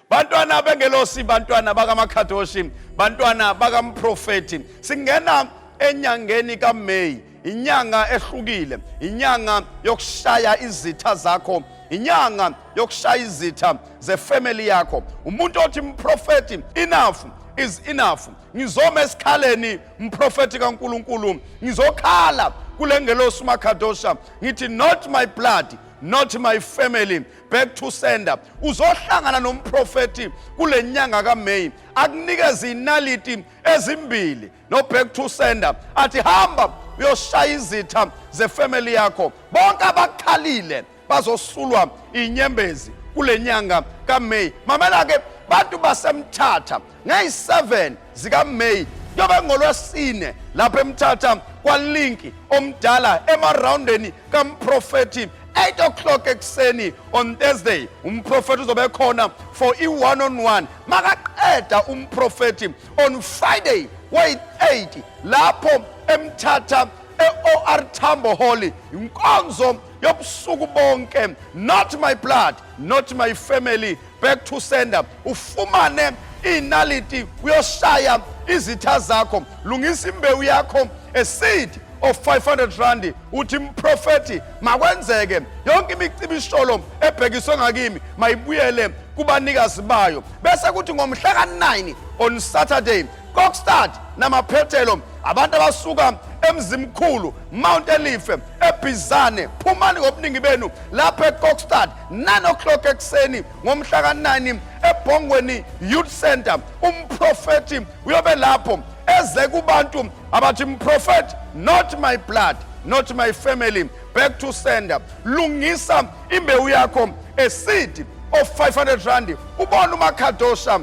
bantwana bengelosi bantwana bakamakhadoshi bantwana bakamprofethi singena enyangeni kaMay inyanga ehlukile inyanga yokushaya izitha zakho inyanga yokushaya izitha zefamily yakho umuntu othi mprofethi enough is enough ngizoma esikhaleni mprofethi kaNkuluNkulu ngizokhala kulengelosi uMakhadosha ngithi not my blood not my family back to sender uzohlangana nomprofeti kule nyanga kaMay akunikeze inaliti ezimbili no back to sender athi hamba uyoshaya izitha zefamily yakho bonke abakhalile bazosulwa inyembezi kule nyanga kaMay mamela ke bantu basemthatha Ngeyi-7 zikaMay kuyobe ngolwesine lapha emthatha kwalinki omdala emarawundeni kamprofethi 8 o'clock ekuseni on thursday umprofethi uzobe khona for i-one on one makaqeda umprofethi on friday wayi-8 lapho emthatha e-or tambo holy inkonzo yobusuku bonke not my blood not my family back to sender ufumane inaliti uyoshaya izitha zakho lungisa imbewu yakho a seed of 500 rand uthi mprofethi makwenzeke yonke imicibisholo ebhekiswe ngakimi mayibuyele kubanikazi bayo bese kuthi ngomhla ka-9 on saturday kokstad namaphethelo abantu abasuka emzimkhulu mount elife ebhizane phumani ngobuningi benu lapha ekokstad 9 o'clock ekuseni ngomhla ka-9 ebhongweni youth center umprofethi uyobe lapho eze kubantu abathi mprofethi not my blood not my family back to sender lungisa imbewu yakho a seed of 500 rand ubona umakhadosha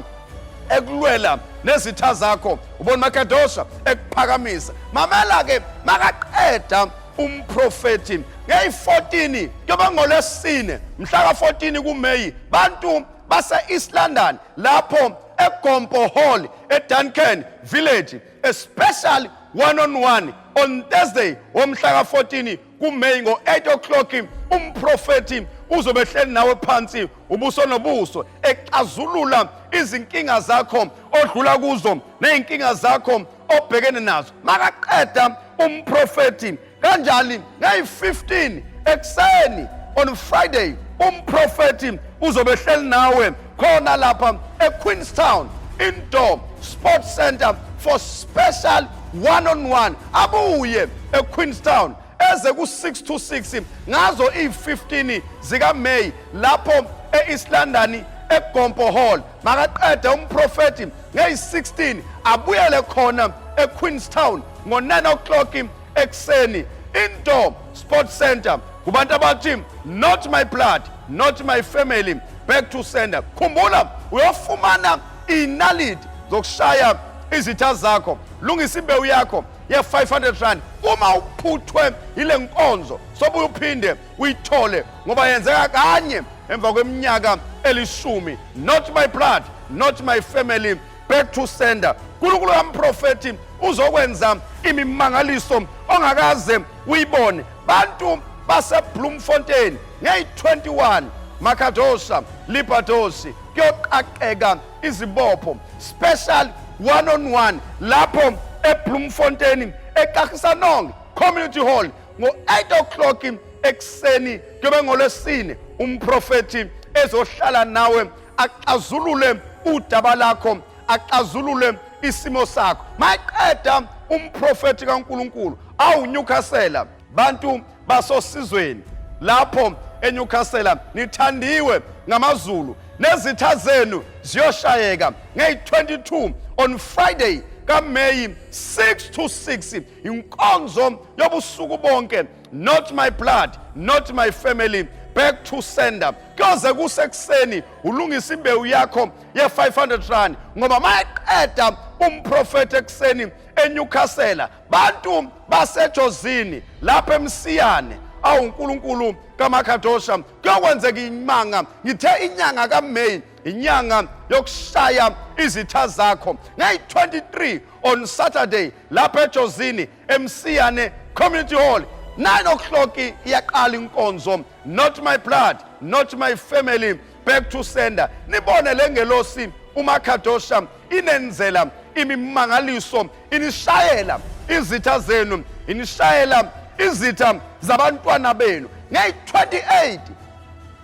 ekulwela nezitha zakho ubona umakhadosha ekuphakamisa mamela-ke makaqeda umprofethi ngeyi-14 kuyoba ngolesine mhla ka-14 kumeyi bantu base-east london lapho egompo hall eduncan village a special one on one on thursday womhla ka-14 kumeyi ngo-8 o'clock umprofethi uzobe ehleli nawe phansi ubuso nobuso exazulula izinkinga zakho odlula kuzo ney'nkinga zakho obhekene nazo makaqeda umprofethi kanjani ngeyi-15 ekuseni on friday umprofethi uzobe hleli nawe khona lapha equeenstown indoor sport center for special one on one abuye equeenstown eze ku-6 to 6 ngazo iyi-15 zikameyi lapho e-east london egompo hall makaqede umprofethi ngeyi-16 abuyele khona equeenstown ngo-9 o'clock ekuseni indoor sport center kubantu abathi not my blood not my family back to sender khumbula uyofumana inalidi zokushaya izitha zakho lungisa imbewu yakho ye-500 rand uma uphuthwe yile nkonzo sobuye uphinde uyithole ngoba yenzeka kanye emva kweminyaka elishumi not my blood not my family back to sender nkulunkulu kamprofethi uzokwenza imimangaliso ongakaze uyibone bantu basebloemfontein ngeyi-21 makadosha libadoshi kuyoqaqeka izibopho special one on one lapho ebloemfontein eqahisanong community hall ngo-8 o'clock ekuseni kuyobe ngolwesine umprofethi ezohlala nawe axazulule udaba lakho axazulule isimo sakho maqeda umprofethi kaNkuluNkulu awunyukhasela bantu basosizweni lapho eNewcastle nithandiwe ngamaZulu nezitha zenu ziyoshayeka ngey22 on Friday kaMay 6 to 6 inkonzo yobusuku bonke not my blood not my family back to sender kuyoze kusekuseni ulungisa imbewu yakho ye-500 rand ngoba mayeqeda umprofethi ekuseni enyukhasela bantu basejozini lapho emsiyane awunkulunkulu kamakadosha kuyokwenzeka imanga ngithe inyanga kameyi inyanga yokushaya izitha zakho ngayi-23 on saturday lapha ejozini emsiyane community hall 9 o'clock iyaqala inkonzo not my blood not my family back to sender nibone le ngelosi umakhadosha inenzela imimangaliso inishayela izitha zenu inishayela izitha zabantwana benu ngeyi-28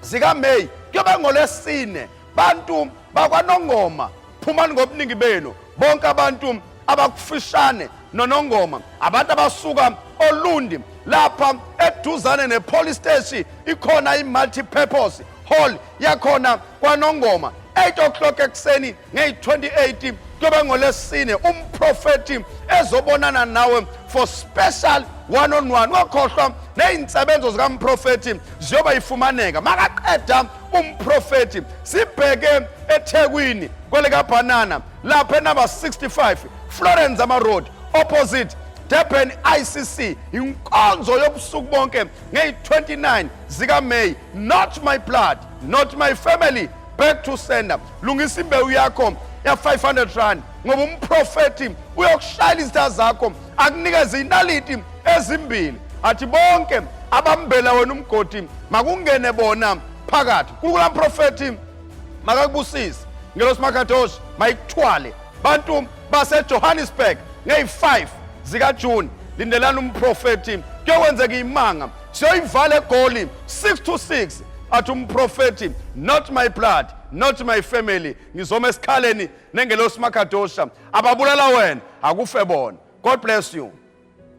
zikameyi kuyobe ngolesine bantu bakwanongoma phumani ngobuningi benu bonke abantu abakufishane nonongoma abantu abasuka olundi lapha eduzane ne-police steshi ikhona i-multipurpose hall yakhona kwanongoma 8 o'clock ekuseni ngeyi-28 kuyoba ngolesine umprofethi ezobonana nawe for special one on one wakhohlwa ney'nsebenzo zikamprofethi ziyoba yifumaneka makaqeda umprofethi sibheke ethekwini kwelekabhanana lapha enumber 65 florence amaroad opposite durban icc inkonzo yobusuku bonke ngeyi-29 zikameyi not my blood not my family back to sender lungisa imbewu yakho ya 500 rand ngoba umprofeti uyokushayela izitha zakho akunikeze inaliti ezimbili athi bonke abambela wena umgodi makungene bona phakathi kulukula mprofeti makakubusise ngelosi makadosha mayikuthwale bantu basejohannesburg ngeyi-5 zikajuni lindelani umprofeti kuyokwenzeka imanga siyoyivala egoli 6 to 6 athi umprofethi not my blood not my family ngizoma esikhaleni nengelosi makadosha ababulala wena akufe bona god bless you